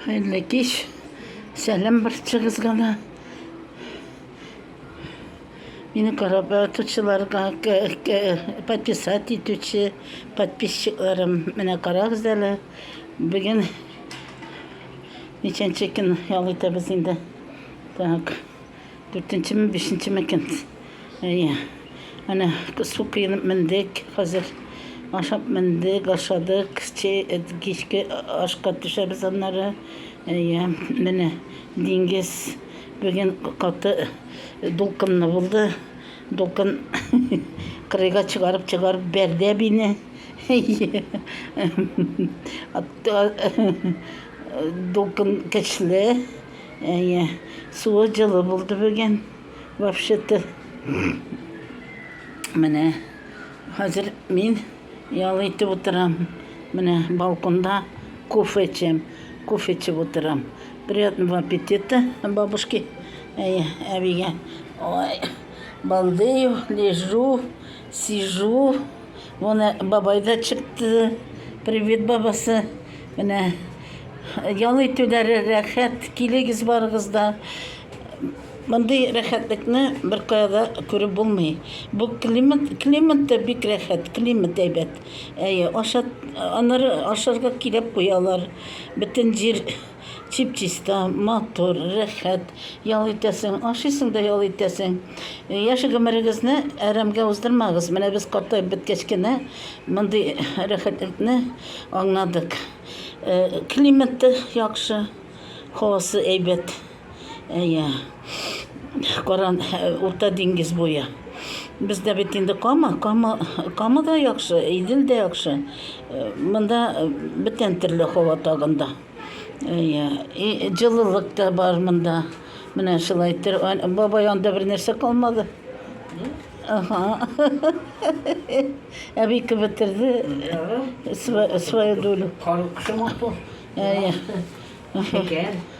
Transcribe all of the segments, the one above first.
Хәерле кич. Сәлам барчагызга да. Мине карап ятучыларга, подписать итүче подписчикларым, менә карагыз әле. Бүген ничәнче көн ял итәбез инде. Так. Дүртенчеме, бишенчеме икән. Әйе. Әнә су коенып мендек хәзер. Ашап мендек, ашадык. Чәй, кичке ашка төшәбез аннары. Әйе, менә диңгез бүген каты дулкынлы булды. Дулкын кырыйга чыгарып чыгарып бәрде әбине. Әйе. Дулкын көчле. Әйе, суы җылы булды бүген. Вообще-то, менә хәзер мин ял итеп утырам. Менә балконда кофе эчәм. Кофе эчеп утырам. Приятного аппетита, бабушки. Әйе, әбигә. Ой, балдею, лежу, Сижу, моны бабай да чыкты. Привет, бабасы. Менә ял итүләре рәхәт, килегез барыгыз да. Мондый рәхәтлекне бер каяда күреп булмый. Бу климат, климат та бик рәхәт, климат әйбәт. Әйе, ашат, аннары ашарга килеп куялар. Бөтен җир Чип-чиста, матур, рәхәт ял итәсең, ашыйсың да ял итәсең. Яшь гомерегезне әрәмгә уздырмагыз. Менә без картаеп беткәч кенә мондый рәхәтлекне аңладык. Климаты яхшы, һавасы әйбәт. Әйе. Каран, Урта диңгез буе. Бездә бит инде Кама, Кама, Кама да яхшы, Идел дә яхшы. Монда бөтен төрле һава тагында. Иә, и җылылык та бар монда. Менә шулай төр, бабай анда бер нәрсә калмады. Ага. Әби кебетерде свою долю. Кары кышымы? Иә.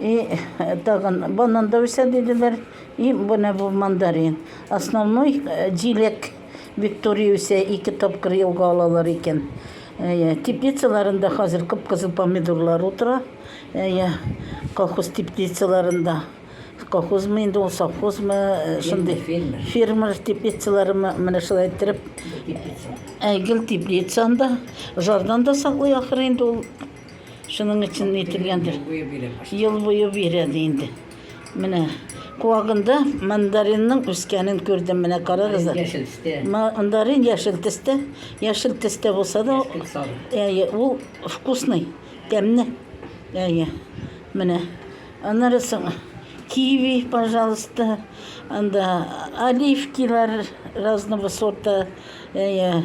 И тагын банан да үсә диделәр. И менә бу мандарин. Основной җиләк Виктория үсә, ике тапкыр елга алалар икән. Теплицаларында хәзер кып-кызыл помидорлар утыра. Колхоз теплицаларында. Колхозмы инде ул, совхозмы, шундый фермер теплицалары менә шулай иттереп. Гел теплицанда, жардан да саклый ахыр инде ул Шуның өчен әйтелгәндер. Ел буе бирә ди инде. Менә куагында мандаринның үскәнен күрдем. Менә карагыз. Мандарин яшел төстә. Яшел төстә булса да, әйе, ул вкусный, тәмле. Әйе. Менә. Аннары соң киви, пожалуйста. Анда оливкилар разного сорта. Әйе.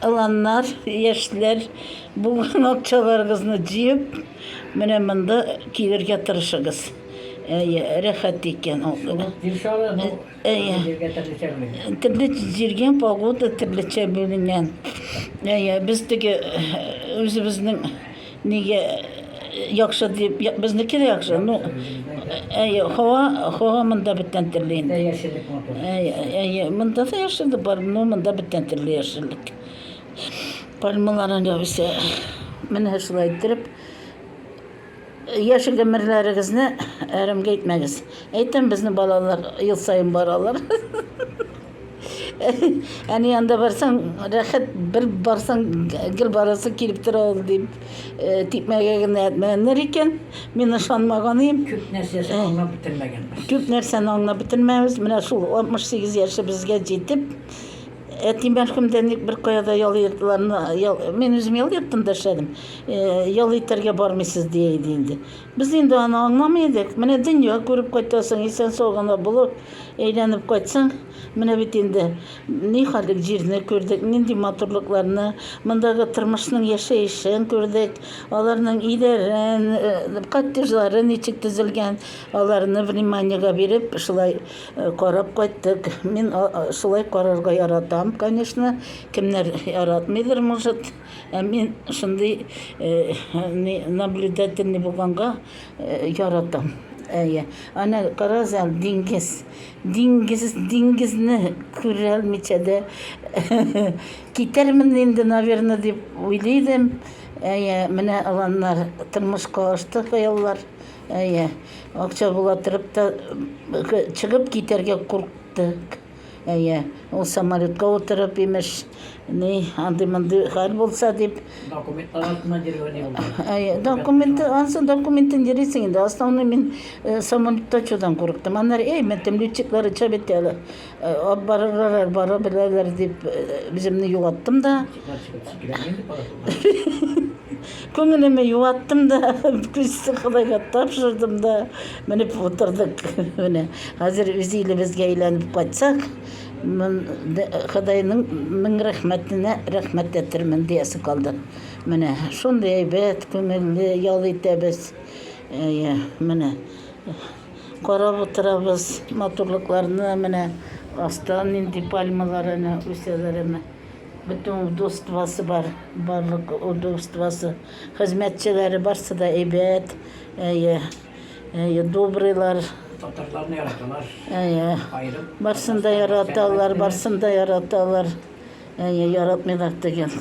Аланнар, яшьләр, булган акчаларыгызны җыеп, менә монда килергә тырышыгыз. Әйе, рәхәт икән ул. Әйе. Төрле җиргә погода төрлечә бүленгән. Әйе, без теге үзебезнең Нигә яхшы дип, безнеке дә яхшы. Ну, әйе, һава, һава монда бөтен төрле инде. Әйе, әйе, монда да яшеллек бар, но монда бөтен төрле яшеллек. Пальмаларын ябыса. Менә шулай иттереп, яшел гомерләрегезне әрәмгә итмәгез. Әйтәм, безнең балалар ел саен баралар. Әни янында барсаң, рәхәт, бер барсаң, гел барасы килеп тора ул дип, э, типмәгә генә әйтмәгәннәр икән. Мин ышанмаган идем. Күп нәрсәсен Э. аңлап бетермәгәнбез. Күп нәрсәне аңлап бетермәбез. Менә шул 68 яшебезгә җитеп, әти мәрхүм дә ник беркая да ял йортларына, ял, мин үзем ял йортында эшләдем. Э, Ял итәргә бармыйсыз дия иде инде. Без инде аны аңламый идек. Менә дөнья күреп кайтасың, исән-сау гына булып, әйләнеп кайтсаң, менә бит инде нихәллек җирне күрдек, нинди матурлыкларны, мондагы тормышның яшәешен күрдек, аларның өйләрен, коттеджлары ничек төзелгән, аларны вниманиегә биреп, шулай карап кайттык. Мин шулай карарга яратам, конечно, кемнәр яратмыйдыр, может. Ә мин шундый наблюдательный булганга яратам. Әйе. Ана карагыз әле диңгез. Диңгез, диңгезне күрә алмыйча да китәрмен инде, наверное, дип уйлый идем. Әйе, менә аланнар тормышка ашты хыяллар. Әйе. Акча була торып та чыгып китәргә куркты. Әйе, ул самолетка утырып, имеш, ни, андый-мондый хәл булса дип. Документлар артына деревня булды. Әйе, документы, ансы документы дирисең инде. Основной мин э, самолетта чудан курыктым. Аннар, эй, мәтем летчиклар ичә бит әле. Э, Алып барырлар, бара беләләр дип, э, үземне югаттым да. Чикләр чикләр инде пара. Күңелемә юаттым да, күзсез Ходайга тапшырдым да, менеп утырдык. Менә хәзер үз илебезгә әйләнеп кайтсак, Ходайның мең рәхмәтенә рәхмәт әйтермен диясе калды. Менә шундый әйбәт, күңелле ял итәбез. Әйе, менә карап утырабыз матурлыкларны, менә астан нинди пальмалар әнә үсәләр әнә. Бөтен удовствосы бар, барлык удовствосы. Хезмәтчеләре барсы да әйбәт, әйе, әйе, добрыйлар. Татарларны яраталар. Әйе. Аерым. Барсын да яраталар, барсын да яраталар. Әйе, яратмыйлар дигән.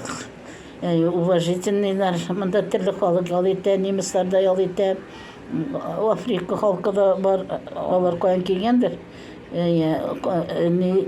Әйе, уважительныйлар. Монда төрле халык ял итә, немецлар да ял итә. М, Африка халкы да бар, алар каян килгәндер. Әйе, ка- ни,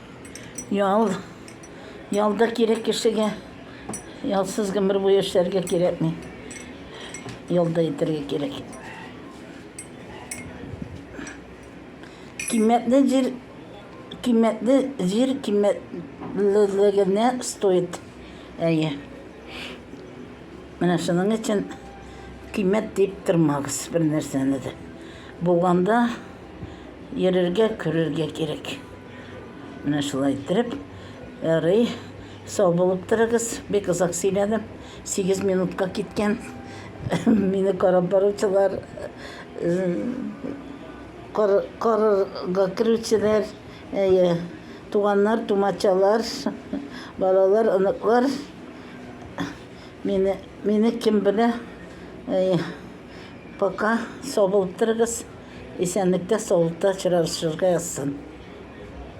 Ял. Ял да кирәк кешегә. Ялсыз гомер буе эшләргә кирәкми. Ялда итәргә кирәк. Киммәтле җир киммәтле җир киммәтлелегенә стоит. Әйе. Менә шуның өчен киммәт дип тормагыз бер нәрсәне дә. Булганда йөрергә, күрергә кирәк. Менә шулай иттереп, ярый, сау булып торыгыз. Бик озак сөйләдем. 8 минутка киткән. Мине карап баручылар, карарга керүчеләр, әйе, туганнар, тумачалар, балалар, оныклар. Мине, мине кем белә? Әйе. Пока сау булып торыгыз, исәнлектә, саулыкта очрашырга язсын.